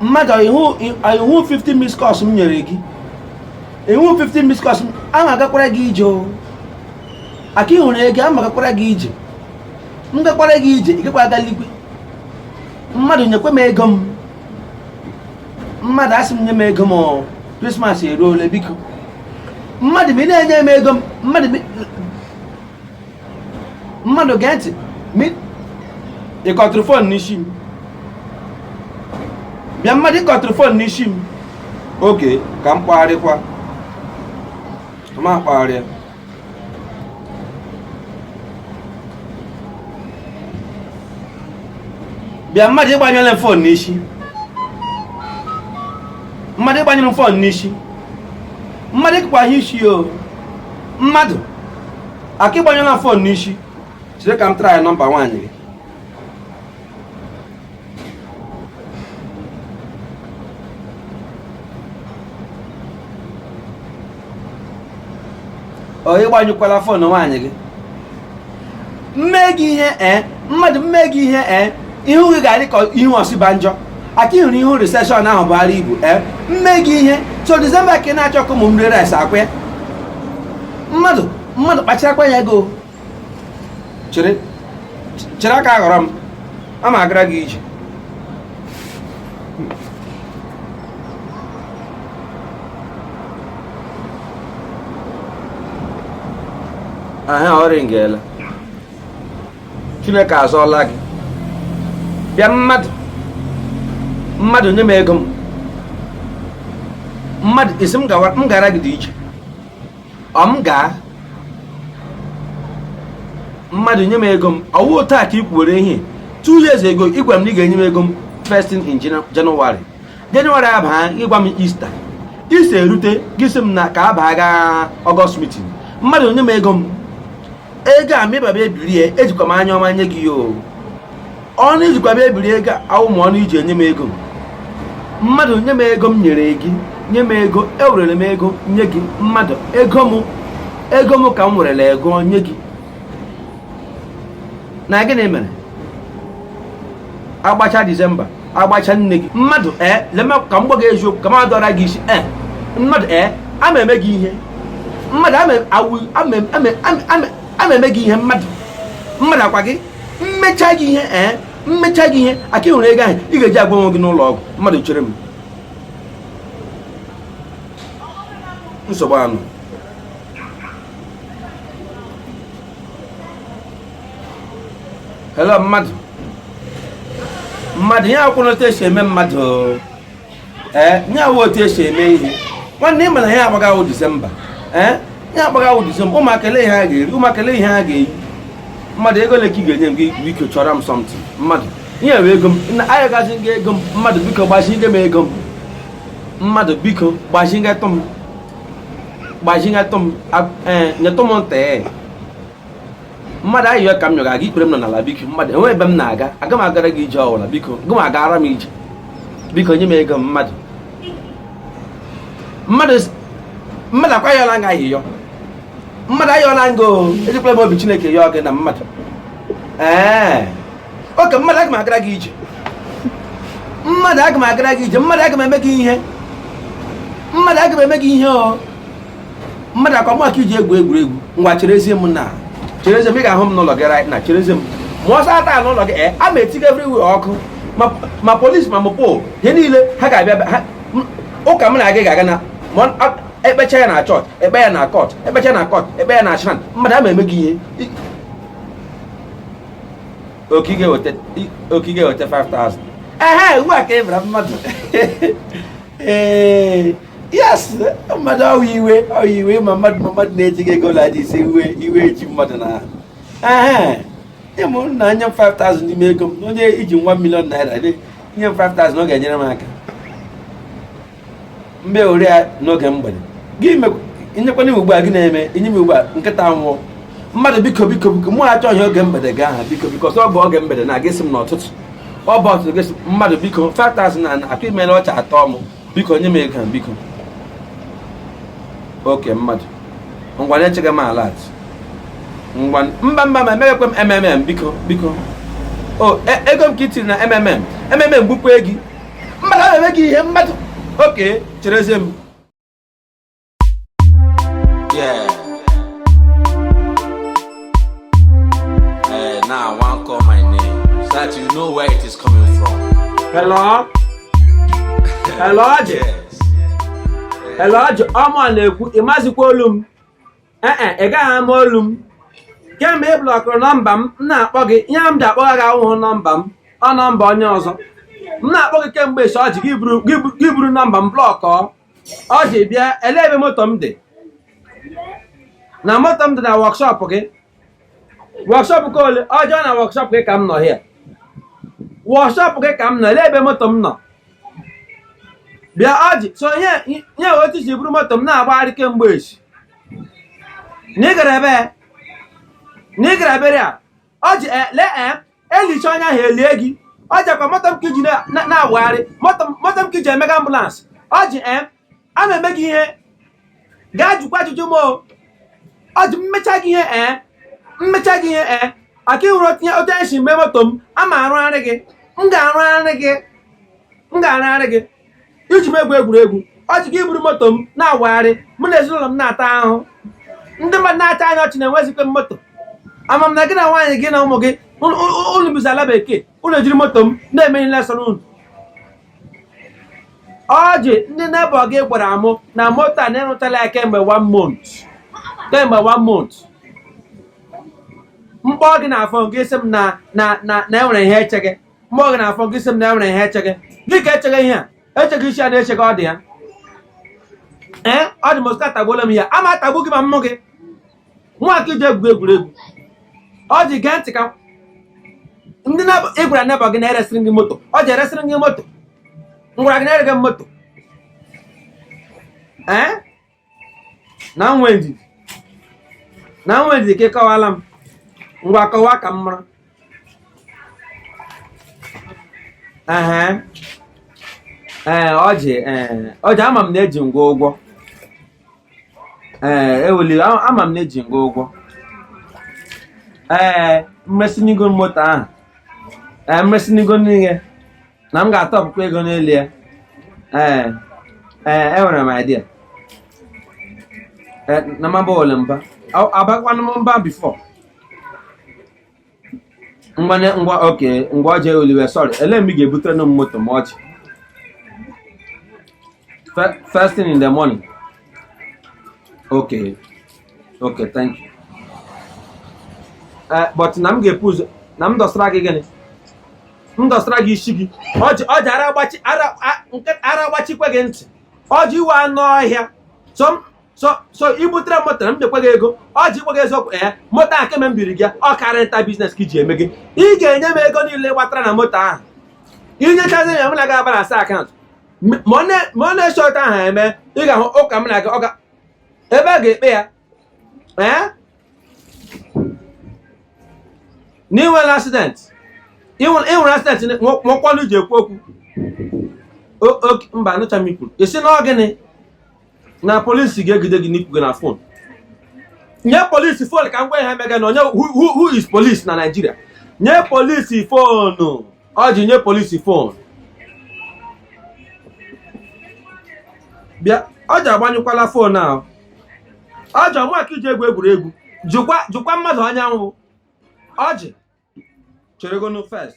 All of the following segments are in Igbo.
mmadụ ị hụ 50 miss calls m nyere gị ị hụ 50 miss calls ama agakwara gị ije o aka ị hụrụ ego ama agakwara gị ije m gakwara gị ije ị ga-akwara ga eligwe mmadụ nyekwa m ego m mmadụ asị m nye m ego m krismas eruola biko mmadụ ma ị na-enye m ego m mmadụ mmadụ gee ntị ị kọtụrụ fon n'isi m bịa mmadụ ị kọtụrụ fon n'isi m okay ka m kpọgharịkwa m akpọgharịa bịa mmadụ ị gbanyụọla m fon n'isi mmadụ ị gbanyụrụ m fon n'isi mmadụ ịkpagha isi o mmadụ aka ị gbanyụọla fon n'isi chere ka m traịa nọmba nwaanyị gị ọ ị gbanyụkwala fon nwaanyị gị m mee gị ihe ee mmadụ m mee gị ihe ee ihu gị ga-adị ka ihu Osinbajo aka ị hụrụ ihu recession ahụ Buhari bu ee m mee gị ihe so December ka ị na-achọ ka ụmụ m rie rice akwa ya mmadụ mmadụ kpacharakwa anya gị o chere chere aka aghọrọ m a ma agara gị ije aha ọ rịngela chineke azọọla gị bịa mmadụ mmadụ nye m ego m mmadụ ị sị m gara gị dị iche ọ m gaa mmadụ nye m ego m ọ wụ otu a ka ị kwuwere ihe two years ago ị gwara m na ị ga-enye m ego m first thing in January January abaa ị gwa m Easter Easter erute gị sị m na ka abaa gaa August meeting mmadụ nye m ego m ego a mịbaba ebirie ejikwa m anya ọma nye gị ya o ọnụ i jikwa bịa ebiri ego awụhụ ọnụ i ji enye m ego mmadụ nye m ego m nyere gị nye m ego ewerere m ego nye gị mmadụ ego m ego m ka m werere ego nye gị na gịnị mere agbacha December agbacha nne gị mmadụ ee eh, lema ka m gwa gị eziokwu ka m adọra gị isi ee eh, mmadụ ee eh, ama eme gị ihe mmadụ ama eme gị ihe mmadụ mmadụ akwa gị m mechaa gị ihe ee m mechaa gị ihe aka ị hụrụ ego ahụ ị ga-eji agwa onwe gị n'ụlọ ọgwụ mmadụ chere m nsogbu anụ hello mmadụ mmadụ ya akwụrụ otu esi eme mmadụ ee eh, ya awụ otu esi eme ihe nwanne ị ma na ihe a gbaga wụ disemba ee eh, ihe a gbaga wụ disemba ụmụaka ele ihe ha ga-eri ụmụaka ele ihe ha ga-eyi mmadụ ego ole ka ị ga-enye m gị biko chọrọ m something mmadụ ihe bụ ego m na-ayọgazi gị ego m mmadụ biko gbazinye m ego m mmadụ biko gbazinyetụ m gbazinyetụ m eh, nyetụ m ntị mmadụ ayịyọ ka m yọga gị ikpere m nọ n'ala biko mmadụ e nwe ebe m na-aga aga m agara gị ije ọwụla biko gị ma agara m ije biko nye m ego m mmadụ mmadụ mmadụ ọ kwa ayọla m gị ayịyọ mmadụ ayọla m gị o ejikwala m obi chineke yọọ gị na mmadụ ee okay mmadụ aga m agara gị ije mmadụ aga m agara gị ije mmadụ aga m eme gị ihe mmadụ aga m eme gị ihe o mmadụ ọ kwa mụ ka i ji egwu egwuregwu ngwa cherezie m na cherezie m ị ga-ahụ m n'ụlọ gị right now cherezie m ma ọsọ ata n'ụlọ gị eh, a ma etiga everywhere ọkụ ma polisi ma mopol ihe niile ha ga-abịa ụka mụ na gị ga-aga na e kpecha ya na chọọchị e kpe ya na court e kpecha na court e kpe ya na shrine mmadụ aga m eme gị ihe okay ị ga-eweta 5000 ehe ugbu a ka ị bịara mmadụ ee yes mmadụ ọ wụ iwe ọ wụ iwe ma mmadụ ma mmadụ na-eji gị ego laji ise iwe iwe eji mmadụ na ahụ ịmụ na nye m 5000 n'ime ego m onye i ji one million naira nye m 5000 ọ ga-enyere m aka mgbe ori ya n'oge mgbede gị nyekwanye m ugbu a gị na-eme inye m ugbu a nkịta nwụọ mmadụ biko biko biko mụ achọ ihe oge mgbede gị ahụ biko biko ọsọ ọ bụ oge mgbede ị ga-asị m n'ụtụtụ ọ bụ ụtụtụ gị mmadụ biko 5000 na atụ i mere ọchị atọ m biko nye m ego a biko okay mmadụ ngwa na echega m alert ngwa mba mba ma emeghekwe m mmm biko biko o e, ego m ka i tiri na mmm mmm bupụ gị mmadụ na-eme gị ihe mmadụ okay cherezie m Yeah. Eh, now I want call my name so that you know where it is coming from. Hello? Hello, Ọjị? Yes. Hello, Ọjị? Ọ mụa na-ekwu, ị mazikwa olu m? Ee e, ị gaghị ama olu m. Kemgbe ị blọkụrụ nọmba m, m na-akpọ gị, ihe m ji akpọgha gị awụhụ nọmba m, ọ nọmba onye ọzọ. M na-akpọ gị kemgbe esi Ọjị gị buru- gị bu- gị buru nọmba m blọkọọ. ọjị bịa ele ebe moto m dị na moto m dị na wọkshọp gị wọkshọp nke ole ọjị na wọkshọp gị ka m nọ hịa wọkshọp gị ka m nọ ele ebe moto m nọ bịa ọjị so nye nye otu i si buru moto m na-agbagharị kemgbe echi na ị gara ebe na ị gara burial ọjị ele e elichaa onye ahụ elie gị ọjị ọkwa moto m ka i ji na- na- na-awagharị moto m- moto m ka i ji emega ambụlansị ọjị ee ama eme gị ihe gaa jụkwa ajụjụ m o ọjị mmecha gị ihe ee mmecha gị ihe ee ọkwa ị hụrụ otu i si mee moto m ama arụgharị gị m ga-arụgharị gị m ga-arụgharị gị i ji m egwu egwuregwu ọjị gị eburu moto m na-awagharị mụ na ezinụlọ m na-ata ahụ ndị mmadụ na-achị anyị ọchị na enwezighị m moto ama m na gị na nwaanyị gị na ụmụ gị unu bizi ala bekee unu ejiri moto m na-eme ihe niile sọrọ unu ọjị ndị nebọ gị gwara mụ na moto a na ị rụchaala ya kemgbe one month kemgbe one month m kpọọ gị na fon gị sị m na na na na e nwere ihe echege m kpọọ gị na fon gị sị m na e nwere ihe echege gịnị ka echege ihe echege isi a na-echeghị ọ dị ya ee ọ dị m osika atagbuola m ya ama atagbu gị ma mmụ gị nwa ka i ji egwu egwuregwu ọjị gee ntị ka ndị na- ị gwara nebọ gị na eresịrị gị moto ọjị eresịrị gị moto m gwara gị na-ere gị moto ee na m nwee ndidi na m nwee ndidi ka ị kọwaara m ngwa kọwa ka m mara ehe ee ọjị ee ọjị ama m na eji m gị ụgwọ ee eweli a- ama m na eji m gị ụgwọ ee m resini gị moto ahụ ee m resini gị n'ihe na m ga-atọpụkwa ego n'elu ya ee ee enwere m idea Eh, na m abala mba Ọ- abakwanụ m mba bifọ ngwa ne- ngwa okay ngwa ọjị sọrị ele mgbe ị ga-ebutere nụ m moto m echi Fe- first thing in the morning okay okay thank you eh, but na m ga-ebu ụzọ na m dọsara gị gịnị m dọsara gị ị sị gịnị ọjị ara agbachi ara agbachikwa gị ntị ọjị ị wụ anụ ọhịa so i butere moto a m nyekwa gị ego ọjị i kwughị eziokwu ee eh, moto ahụ kemgbe m biri gị ọ car rental biznes ka i ji emege ị ga-enye m ego niile ị gbatara na moto ahụ i nyechazie ya mụ na gị abalansịa akaụntụ ma ọ na-esi otu ahụ eme ị ga-ahụ ụka m na gị ọka ebe a ga-ekpe ya ee na i nwere asident i nwere asident nwekwa ọnụ ji ekwu okwu mba anụcha m ikwu ị sị na ọ gịnị na polisi ga-egide gị n'ikwu gị na fon nye polisi fon ka m gwa ihe mega na onye who is polisi na naijiria nye polisi fon ọjị nye polisi fon bịa ọjị agbanyụkwala fon ahụ ọjị ọ mụa ka i ji egwu egwuregwu jụkwa mmadụ onye m wụ ọjị cheregonu fest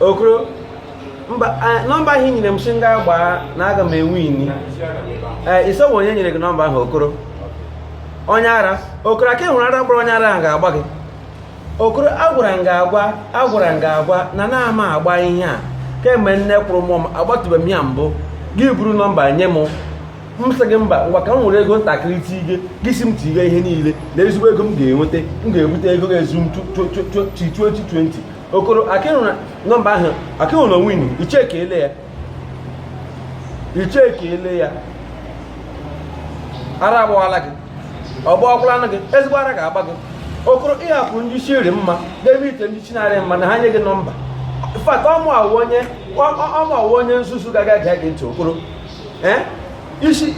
okoro mba nọmba ahụ i nyere m sị m gaa gbaa na aga m ewini ee ị sị ọ wụ onye nyere gị nọmba ahụ okoro onye ara okoro aka ịhụrụ ara gbara onye ara ahụ ga-agba gị okoro agwara m gị agwa agwara m gị agwa na anaghị m agba ihe a kemgbe nne kwụrụ mụọ m agbatụbeghị m ya mbụ gị buru nọmba nye m m sị gị mba ngwa ka m were ego ntakịrị tige gị sị m tige ihe niile na ezigbo ego m ga-enweta m ga-ebute ego ga-ezu m 2020 okoro akịhụrụ nọmba ahụ akịhụrụ onwe unu icheke ele ya icheke ele ya ara agbawala gị ọ gbawakwalanụ gị ezigbo ara ga-agba gị okoro ị hapụ ndị isi rị mma n'ebe ite ndị isi na-arị mma na ha nye gị nọmba fat ọ mụa wụ onye ọ mụa wụ onye nzuzu ga-ege gị ntị okoro ee isi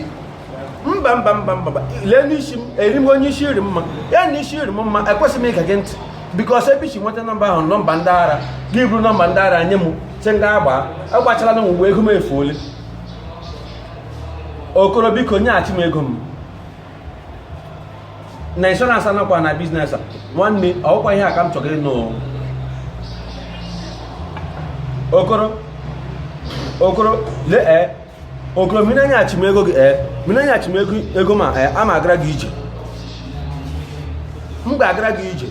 mba mba mba mba lee n'isi m eri m onye isi rị mma ya na isi rị m mma ekwesịghị m ige gị ntị bikos ebe i si nweta nọmba ahụ nọmba ndị ara gị buru nọmba ndị ara nye m sị m gaa gbaa agbachala na mgbe ego m efuole okoro biko nyeghachi m ego m na inshọransị anakwa na biznes a nwanne ọkwa ihe a ka m chọrọ ịnụ okoro okoro lee eh, okoro ma ị na-enyechi m ego gị ee eh, ma ị na-enyechi m ego m a ee eh, ama agara gị ije m ga-agara gị ije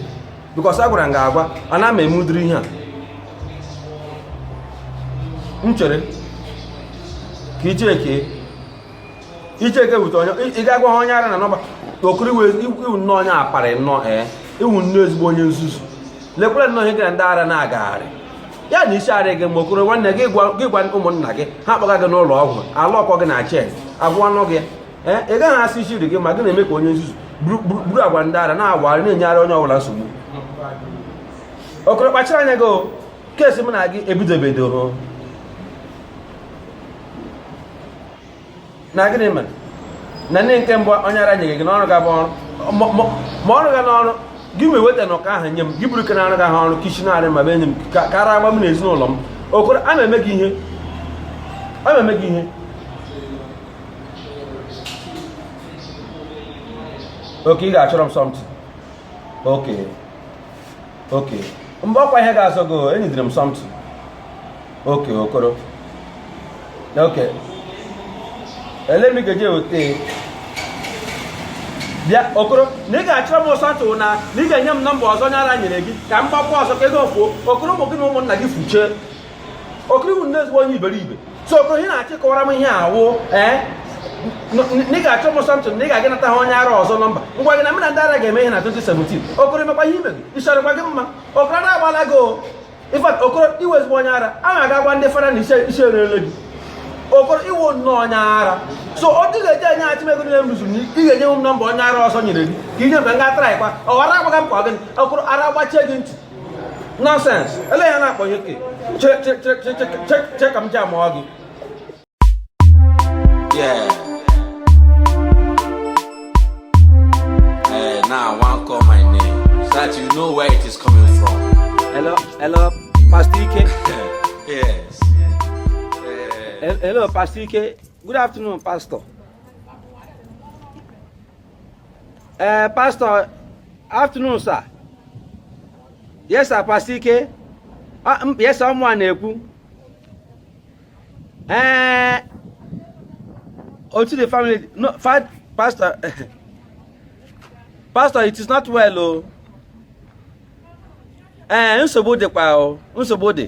bikọs a gwara m gị agwa ana m eme ụdịrị ihe a m chere ka icheke icheke wute onye ị ga-agwa ha onye ara na nọmba okoro ị wụ nnọọ onye aparị nnọọ ee eh, ị wụ nnọọ ezigbo onye nzuzu lekwere nnọọ ihe gị na ndị ara na-agagharị ya na isi arị gị mma okoro nwanne gị gwa ụmụnna gị ha kpọga gị n'ụlọ ọgwụ a lọọkọ gị na chen agwọọnụ gị ee ị gaghị asị isi rị gị mma gị na-eme ka onye nzuzu buru agwa ndị ara na-awagharị na-enyegharị onye ọbụla nsogbu okoro kpachara anya gị keesi m na gị ebidobedoro na gịnị mere na ndị nke mbụ onye ara nyere gị n'ọrụ ga-abụ ọrụ ma ọrụ ga n'ọrụ gị ma eweta na ụka ahụ nye m gị buru ke na-arụghị ọrụ ke ishi na-arị mma bịa nye m ka ara gbaa m na ezinụlọ m okoro a na-eme gị ihe a na-eme gị ihe oke ị ga-achọrọ m something oke oke mgbe ọkwa ihe ga-azọ gị enyidere m something oke okoro oke ele m ga-eji eweta bịa okoro na ị ga-achọrọ m something na na ị ga-enye m nọmba ọzọ onye ara nyere gị ka m gbakwa ọzọ ka ego fuo okoro ụmụ gị na ụmụnna gị fuchee okoro i wu nnọọ ezigbo onye iberibe so okoro ihe ị na-achọ ịkọwara m ihe a wụ ee na ị ga-achọ m something na ị ga-aga nata ha onye ara ọzọ nọmba ngwa gị na mena ndị ara ga-eme ihe na 2017 okoro emekwa ihe ime gị ishi arịkwa gị mma okoro ara agbaala gị o in fact okoro i wu ezigbo onye ara a na-aga gwa ndị fara na isi erele gị okoro i wu nnọọ onye ara so ọ dị ga-eji enye achị ego niile m rụzuru ị ga-enye m nọmba onye ara ọzọ nyere gị ka i nye m ka m ga traịkwa ọ ghara agbaga m ka ọ gịnị okoro ara gbachie gị ntị nọsens ele ya na-akpọ ya oke che ka m ji amụọ gị Yeah. Hey, now I want call my name so that you know where it is coming from. Hello, hello, Pastor Ike. yes. Hello, Pastor Ike. Good afternoon, Pastor. ee eh, pastọ afternoon sir yes sir pastọ ike ah, yes sir ọ mụwa na-ekwu ee eh, how is the family no pastọ pastọ it is not well o oh. ee eh, nsogbu dịkwa o oh. nsogbu dị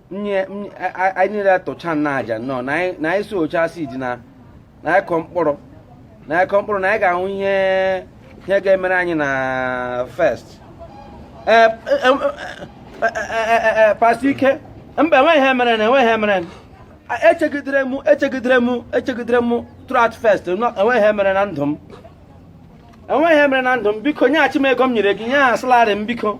nye anyị niile tụcha na aja nnọọ na anyị sowchaa seed na na anyị kọ mkpụrụ na anyị kọ mkpụrụ na anyị ga-ahụ ihe ihe ga-emere anyị na first ee pastọ ike mba enweghị ihe mere na enweghị ihe mere echegidere m echegidere m echegidere m throughout first enweghị ihe mere na ndụ m enweghị ihe mere na ndụ m biko nyeghachi m ego m nyere gị ihe ahụ salari m biko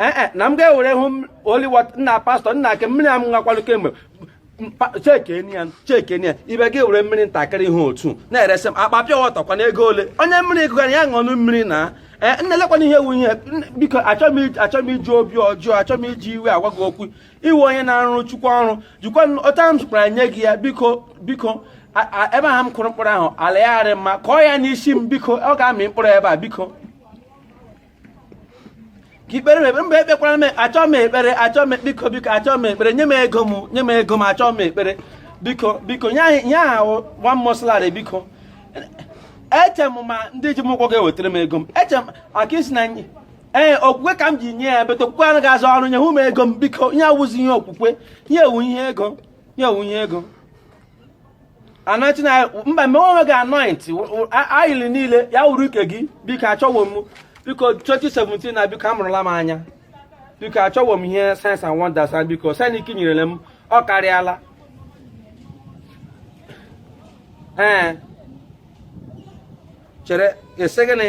ee eh, eh, na m ga-ewere holy water nna pastọ nna ake mmiri a m ṅakwanụ kemgbe chekenia chekenia ibe gị were mmiri ntakịrị ihe otu na-eresị m akpa pure water kwana ego ole onye mmiri gụgara ya ṅụọnụ mmiri na ee eh, nna lekwanụ ihe wu ihe biko achọghị m iji obi ọjọọ achọghị m iji iwe agwa gị okwu i wu onye na-arụrụ chukwu ọrụ jikwa ọta m zụkwara nye gị ya biko biko ebe ahụ m kụrụ mkpụrụ ahụ ala ya arị mma kọọ ya n'isi m biko ọ ga-amị mkpụrụ ebe a biko ka i kpeere m ekpere mba ekpekwara m achọọ m ekpere achọọ m biko biko achọọ m ekpere nye m ego m nye m ego m achọọ m ekpere biko biko ihe ahụ wụ one month salari biko eche m ma ndị ji m ụgwọ ga-ewetara m ego m eche m aka isi na ee okwukwe ka m ji nye ya but okwukwe anaghị arụ ọrụ nye m ego m biko ihe a awụzi ihe okwukwe ihe a wụ ihe ego ihe a wụ ihe ego anointing oil mba mgbe onwe gị anointing oil niile ya wụrụ nke gị biko achọwo m biko 2017 na biko amụrụla m anya biko achọwo m ihe signs and wonders and biko sanik nyerele m ọ karịala ee chere ị sị gịnị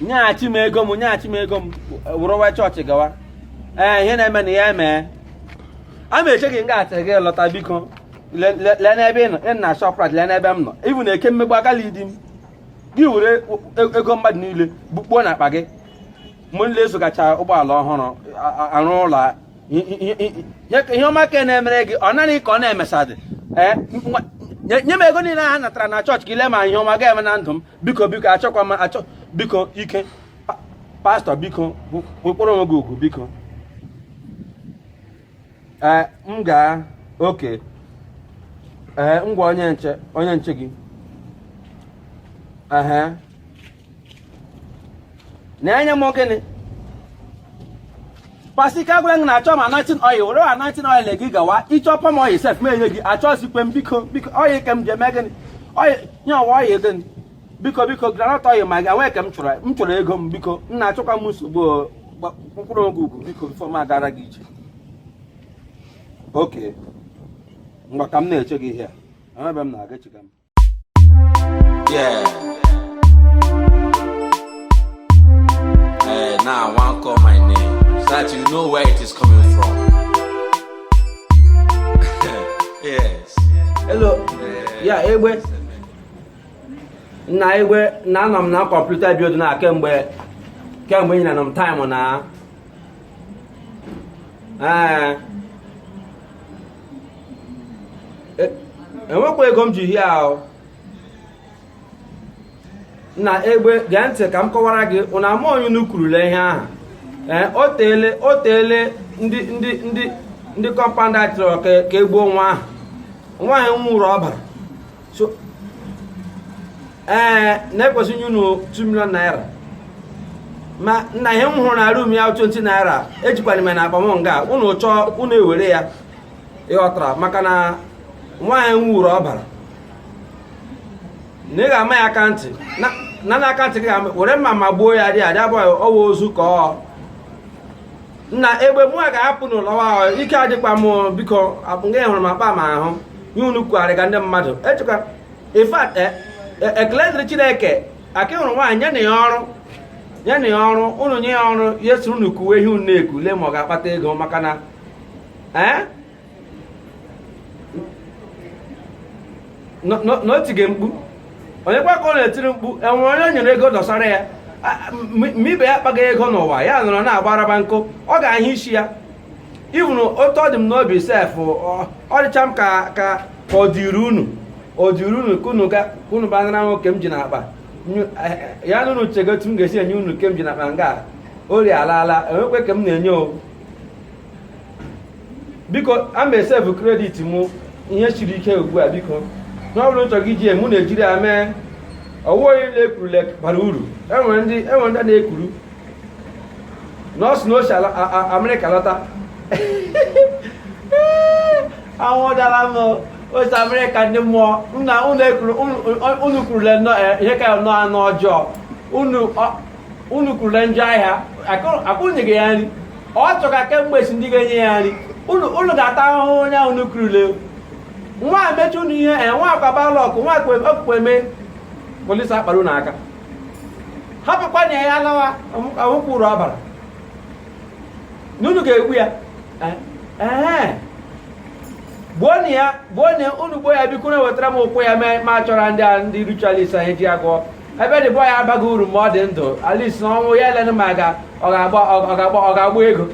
nyeghachi m ego m nyeghachi m ego m wụrụwa chọọchị gawa ee ihe na-eme na ya emee a ma eche gị nga a till gị lọta biko le- le- lee n'ebe ị nọ ị na Shoprite lee n'ebe m nọ ibu na eke mmegbu agala idi m gị were e- ego mmadụ niile bukpuo na akpa gị mụ nile zụgacha ụgbọala ọhụrụ a- a- arụ ụlọ a- i- i- i- i- nye ka ihe ọma ka na-emere gị ọ naghị ka ọ na-emesadị ee nwa- nye nye m ego niile ha natara na chọọchị ka ị lee ma ihe ọma ga-eme na ndụ m biko biko achọkwa m achọ biko ike pastọ biko kpọrọ onwe gị ugwu biko ee nga a oke ee ngwa onye nche onye nche gị ehe na-enye m gịnị pasi ka gwara gị na achọ m anointing oil were anointing oil gị gawa ịchọ palm oil sef m enye gị achọzikwe m biko biko oil ke m ji eme gịnị oil nye ọwa oil gịnị biko biko groundnut oil ma gị enwee ka m chọrọ m chọrọ ego m biko m na-achọkwa m nsogbu o, gba- kpọrọ onwe gị ugwu biko bifo m agara gị ije oke ngwa ka m na-eche gị ihe a enwe ebe m na-aga echiga m Yeah. Eh, now I want call my name so that you know where it is coming from. yes. Hello. Ya egbe. Nna egbe na anọ m na kọmputa bi na kemgbe kemgbe ị na-anọ m taịmụ na. Ee. e, enwekwa ego m ji ihe ahụ nna egbe gee ntị ka m kọwara gị ụna ama onye unu kwurula ihe ahụ ee o teele o teele ndị ndị ndị ndị kọmpand a chọrọ ka e gbuo nwa ahụ nwaanyị ṅụrụ ọbara so ee eh, na ekwesị m inye unu 2 million naira ma nna ihe m hụrụ na rum ya 20 naira ejikwara m na akpa m nga a unu chọọ unu ewere ya ịghọtara maka na nwaanyị ṅụrụ ọbara na ị ga-ama ya aka ntị na na aka ntị gị were mma ma gbuo ya dị adị abụghị ọwa ozu ka ọ nna egbe mụ a ga-apụ n'ụlọ ahụ ike adịkwa m biko akpụnga hụrụ m akpa m ahụ nye unu kwugharị ka ndị mmadụ echekwa in fact e, e, ekele dịrị chineke aka hụrụ nwaanyị nyenụ ya ọrụ nyenụ ya ọrụ unu nye ya ọrụ ya soro unu kuwe ihe unu na-eku lee ma ọ ga-akpata ego maka na ee eh? na o tige mkpu onye kwa ka ọ na-etiri mkpu enwere onye o nyere ego dọsara ya ma ibe ya kpaga ego n'ụwa ya nọrọ na-agbaraba nkụ ọ ga-ahụ isi ya ivụrụ otu ọ dị m n'obi sef ọ dịcha m ka ka ọ dịrị unu ọ dịrị unu ka unu bịa nara nwoke m ji n'akpa ya na unu chego otu m ga-esi enye unu nke m ji n'akpa nga ori alaala enwekwe ka m na-enye owu biko a ma e save credit mụ ihe siri ike ugbu a biko ihe ọ bụla unu chọrọ iji ya me unu ejiri ya mee ọwụhụ onye na-ekuru lek bara uru enwere ndị enwere ndị na-ekuru nọọsụ na-esi amerịka lọta anwụ dara m o si amerịka ndị mmụọ nna unu kurule ihe ka ya nọ anụ ọjọọ unu unu kurula njọ ahịa akwụnyeghị ya nri ọ chọga kemgbe si ndị ga-enye ya nri unu ga-ata ahụhụ onye ahụ unu kurule nwa mechi unu ihe e nwa akwaba lọkụ nwa okpukpe mee polisi akpara unu aka hapụkwanụ ya lawa ahụkwụ uru ọ baara unu ga-egbu ya eh, eh. gbuonụ ya gbuo na unu gbuo ya bikonụ wetara m ụkwụ ya ma chọrọ ndị a ndị ritualist anyị ji ụgwọ ebe the boy a abaghị uru ma ọ dị ndụ at least n'ọnwụ ya e lenụ ma ga ọ ga-agba ọ ga-agba ọ ga-agba ego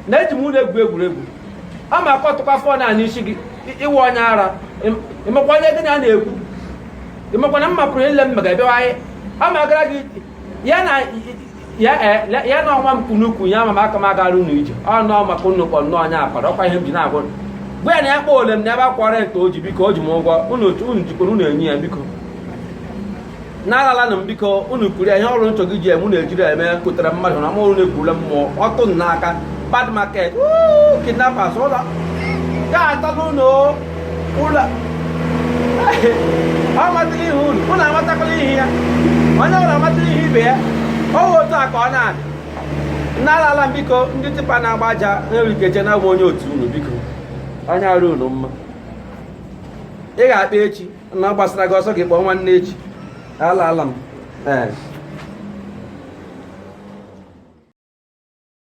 na eji m unu egwu egwuregwu ọ ma akụtụkwa phone a n'isi gị ị wụ onye ara ị makwa onye gị na ya na-ekwu ị makwa na mma pụrụ ile mma ga-ebewa anyị ọ ma gara gị ya na ya e, ya- ya na ọnwa m kunukwu ya ma m aka m agara unu ije ọ nọọ maka unu kpọ nnọọ onye akwara ọkwa ihe m ji na-agwa unu. gwa ya na ya kpọ ole m na ebe akwara ete o ji biko o ji m ụgwọ unu otu unu jikwara unu enye ya biko na alala na m biko unu kuru ya ihe ọwụla unu chọga iji eme unu ejiri ya eme pụtara mmadụ na ma unu ekurula mmụọ ọtụ m n'aka bad market woo, kidnappers unu ga-ata n'ụlọ ụlọ amatala ihu unu unu amatakwala ihu ya onye ọwụla amatala ihu ibe ya ọ bụ otu a ka ọ na-adị na alala m biko ndị tipa na-agba aja nwere ike che na awụ m onye otu unu biko anya arị unu mma ị ga-akpọ echi na ọ gbasara gị ọ sọ gị kpọọ nwanne echi alala m ee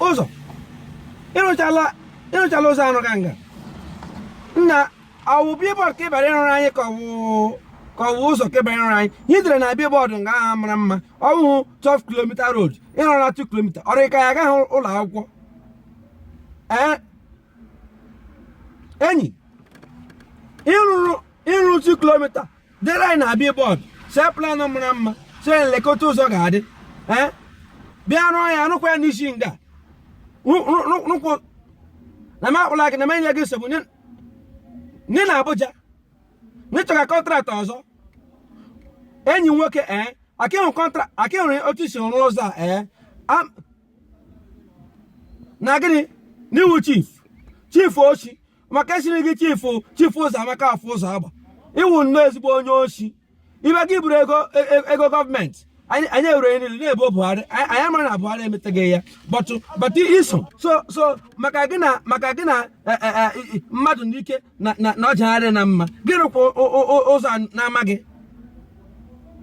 ụzọ ị rụchala ị rụchala ụzọ arụga nga nna ọwụ billboard ka ị bịara ịrụrụ anyị ka ọwụ ka ọwụ ụzọ ka ị bịara ịrụrụ anyị ihe e dere na billboard nga ahụ mara mma ọwụhụ 12 kilomita road ị rụrụ na 2 kilomita ọ rị ka ya agaghị ụlọ akwụkwọ ee enyi ị rụrụ ị rụrụ 2 kilomita dere anyị na billboard see plan mara mma see lekwa otu ụzọ ga-adị ee bịa rụọ ya rụkwa ya n'isi nga Rụ- rụ- rụ- rụkwa na m akpụla gị na m enye gị nsogbu nye nye na Abuja na ị chọga contract ọzọ enyi m nwoke ee akịhụ kọntra akịhụ otu i si rụọ ụzọ a ee Am- na gịnị na ị wụ chief chief oshi maka a sịrị gị chief chief ụzọ amaka afọ ụzọ agba ị wụ nnọọ ezigbo onye oshi ibe gị buru ego e, e, ego government anyị ewere niile na-ebo Buhari anyị amara na Buhari emetaghị ya but but iso so so maka gị na maka gị na e, mmadụ n'ike na na ọjagharị na mma gị rụkwa ụzọ na-amaghị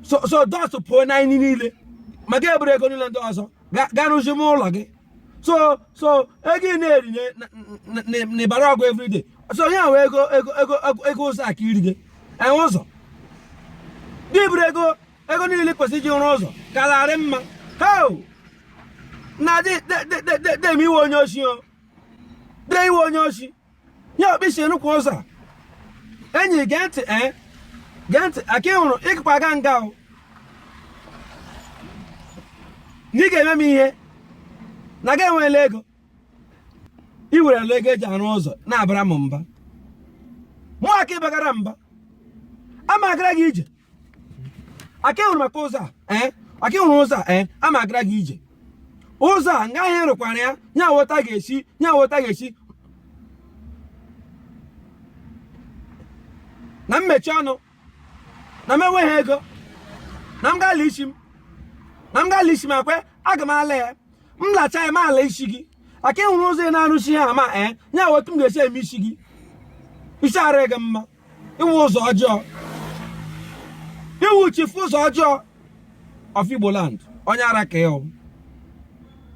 so so dust pụọ n'anyị niile ma gị eburu ego niile ndị ọzọ ga rụzi m ụlọ gị sọsọ ego ị na-eri n'ịbara ọgụ everyday so ya nwe ego ego ego ego ụzọ aka iri gị enwe ụzọ gị buru ego ego niile kwesịrị iji rụọ ụzọ kararị mma heo na dị dị dị dị dị ị wụ onye oshi o dee ị wụ onye oshi ya okpisi enukwu ụzọ enyi gee ntị ee eh? gee ntị aka ị hụrụ ị gakwa aga nga o na ị ga-eme m ihe na gị ewela ego ị werela ego e ji arụ ụzọ na-abara m mba mụ aka ịbagara mba ama agara gị ije aka hụrụ maka ụzọ a eh? aka hụrụ ụzọ a eh? a ma agara gị ije ụzọ a nga ha rụkwara ya nye awọta ga-esi nye awọta ga-asị na m mechi ọnụ na m enweghị ego na m gala isi m na m gala isi m akwe aga m ala ya m lacha ya m ala isi gị aka ịhụrụ ụzọ ị na-arụsi ha ama ee eh? nye awọta m ga-esi eme isi gị isi ara gị mma ị wụ ụzọ ọjọọ ị wụ chief ụzọ ọjọọ of Igboland onye ara ka ị wụ